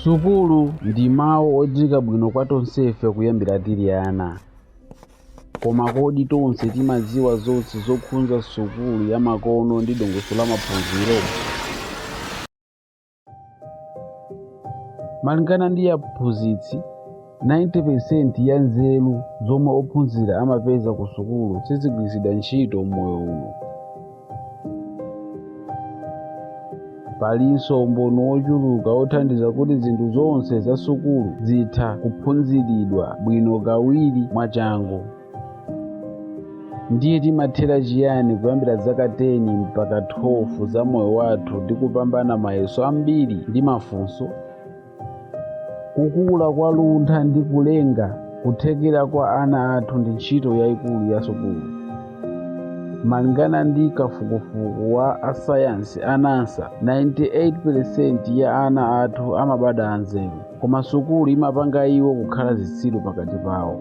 sukulu ndi mawu odziwika bwino kwa tonsefe kuyambira tili ana koma kodi tonse timadziwa zonse zokhudza sukulu ya makono ndi dongosolo la maphunziro malingana ndi aphunzitsi 90 peresenti ya nzeru zomwe ophunzira amapeza kusukulu sizigwiritsidwa ntchito m'moyo uno. Palinso umboni wochuluka wothandiza kuti zinthu zonse za sukulu zitha kuphunziridwa bwino kawiri mwachangu. Ndiye timathera chiyani kuyambira zaka 10 mpaka 12 za moyo wathu ndi kupambana mayeso ambiri ndi mafunso? Kukula kwa luntha ndi kulenga kuthekera kwa ana athu ndi ntchito yaikulu ya sukulu. Malingana ndi kafukufuku wa asayansi a NASA, 98% ya ana athu amabadwa anzeru, koma sukulu imapanga iwo kukhala zitsiru pakati pawo.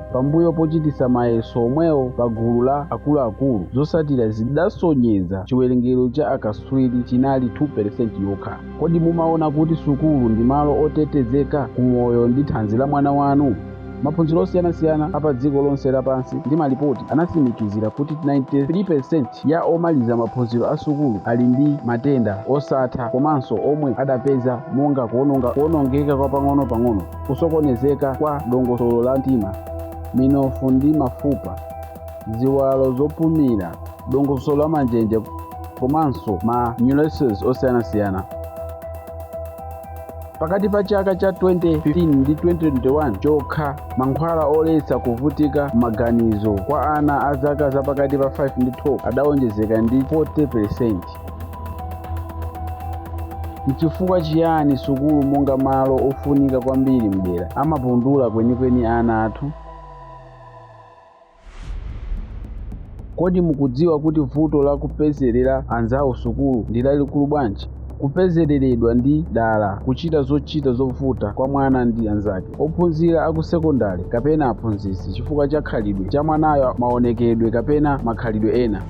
Pambuyo pochititsa mayeso omwewo pa gulu la akuluakulu, zotsatira zidasonyeza chiwerengero cha akatswiri chinali 2% yokha. Kodi mumaona kuti sukulu ndi malo otetezeka ku moyo ndi thanzi la mwana wanu? Maphunziro osiyanasiyana a padziko lonse lapansi ndi malipoti anatsimikizira kuti 93% ya omaliza maphunziro a sukulu ali ndi matenda osatha komanso omwe adapeza monga kuwonongeka kwa pang'onopang'ono, kusokonezeka kwa dongosolo la mtima, minofu ndi mafupa, ziwalo zopumira, dongosolo la manjenje komanso ma neurosis osiyanasiyana. Pakati pa chaka cha 2015 ndi 2021 chokha, mankhwala oletsa kuvutika maganizo kwa ana a zaka zapakati pa 5 ndi 12 adawonjezeka ndi 40%. N'chifukwa chiyani sukulu monga malo ofunika kwambiri m'dera amapundula kwenikweni ana athu? Kodi mukudziwa kuti vuto la kupezerera anzawo sukulu ndi lalikulu bwanji? Kupezereredwa ndi dala kuchita zochita zovuta kwa mwana ndi anzake, ophunzira a ku sekondale kapena aphunzitsi chifukwa cha khalidwe la mwanayo, maonekedwe kapena makhalidwe ena.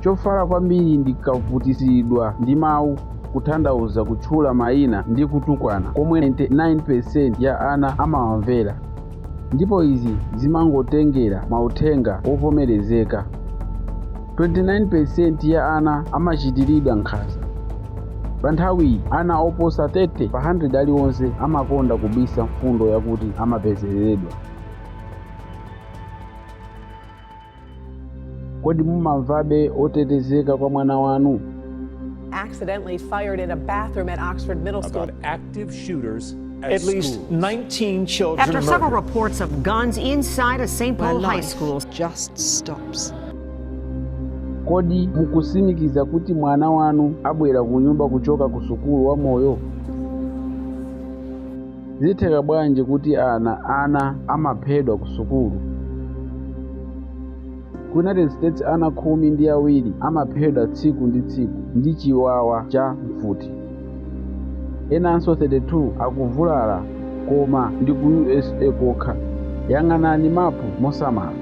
Chofala kwambiri ndi kuvutitsidwa ndi mawu, kuthandauza kutchula mayina ndi kutukwana komwe 99% ya ana amawamvera. Ndipo izi zimangotengera mauthenga wovomerezeka. 29% ya ana amachitiridwa nkhanza. Pa nthawiyi, ana oposa 30 pa 100 aliwonse amakonda kubisa mfundo yakuti amapezereredwa. Kodi mumamvabe otetezeka kwa mwana wanu? accidentally fired in a bathroom at Oxford Middle School. About active shooters at, at least 19 children. After murdered. several reports of guns inside a St. Paul high school, just stops. Kodi mukusimikiza kuti mwana wanu abwera kunyumba kuchoka ku sukulu wa moyo? Zitheka bwanji kuti ana ana amaphedwa kusukulu? Ku United States ana khumi ndi awiri amaphedwa tsiku ndi tsiku ndi chiwawa cha mfuti. Enanso 32 akuvulala koma ndi ku USA kokha. Yang'anani mapu mosamala.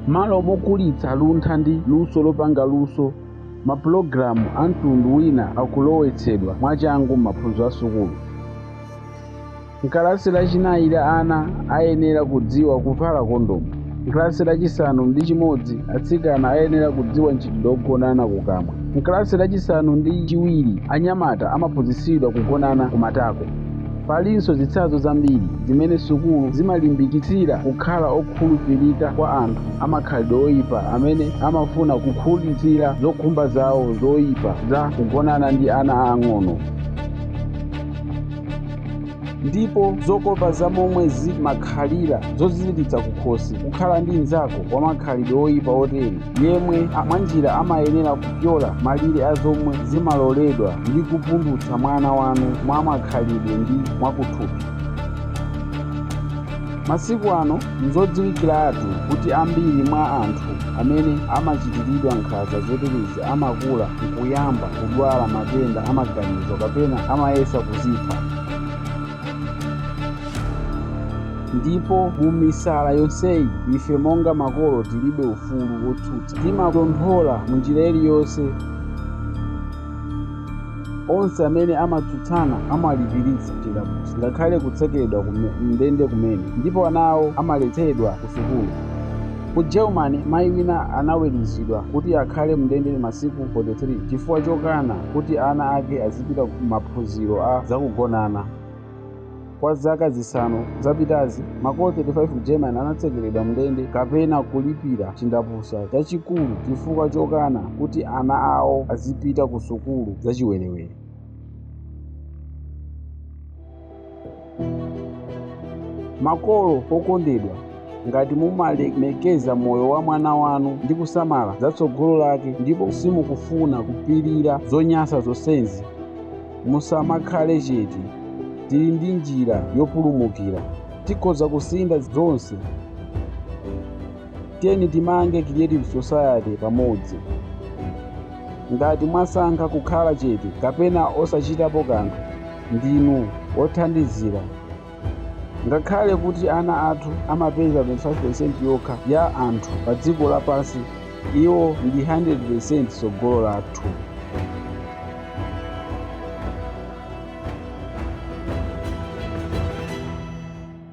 M'malo mokulitsa luntha ndi luso lopanga luso, mapulogalamu a mtundu wina akulowetsedwa mwachangu m'maphunziro a sukulu. M'kalasi lachinayi la ana ayenera kudziwa kuvala kondomu. M'kalasi lachisanu ndi chimodzi atsikana ayenera kudziwa mchitidwe wogonana kukamwa. M'kalasi lachisanu ndi chiwiri anyamata amaphunzitsidwa kugonana kumatako. Palinso zitsanzo zambiri zimene sukulu zimalimbikitsira kukhala okhulupirika kwa anthu a makhalidwe oipa amene amafuna kukhutitsira zokhumba zawo zoipa za kugonana ndi ana aang'ono. Ndipo zokopa za momwe zimakhalira zoziziritsa kukhosi kukhala ndi mnzako wamakhalidwe oipa otere! yemwe a- mwanjira amayenera kupyola malire a zomwe zimaloledwa ndi kupundutsa mwana wanu mwa makhalidwe ndi mwakuthupi masiku ano nzodziwikiratu kuti ambiri mwa anthu amene amachitiridwa nkhanza zoterezi amakula nkuyamba kudwala matenda a maganizo kapena amayesa kudzipha Ndipo mu misala yonseyi, ife monga makolo tilibe ufulu wotsutsa. Timatonthola mu njira iliyonse onse amene amatsutsana, amalipiritsidwa chindapusa, ngakhale kutsekeredwa kume, m'ndende kumene, ndipo ana awo amaletsedwa ku sukulu. Ku Germany, mayi wina anaweruzidwa kuti akhale m'ndende masiku 43 chifukwa chokana kuti ana ake azichita kupita ku maphunziro a zakugonana. Kwa zaka zisanu zapitazi, makolo 35 ku Germany anatsekeredwa m'ndende kapena kulipira chindapusa chachikulu chifukwa chokana kuti ana awo azipita ku sukulu zachiwerewere. Makolo okondedwa, ngati mumalemekeza moyo wa mwana wanu ndi kusamala za tsogolo lake ndipo simukufuna kupirira zonyansa zonsezi, musamakhale chete. Tili ndi njira yopulumukira. Tikhoza kusintha zonse. Tiyeni timange Creative Society pamodzi. Ngati mwasankha kukhala chete kapena osachitapo kanthu, ndinu wothandizira. Ngakhale kuti ana athu amapeza 25% yokha ya anthu padziko lapansi, iwo ndi 100% tsogolo lathu.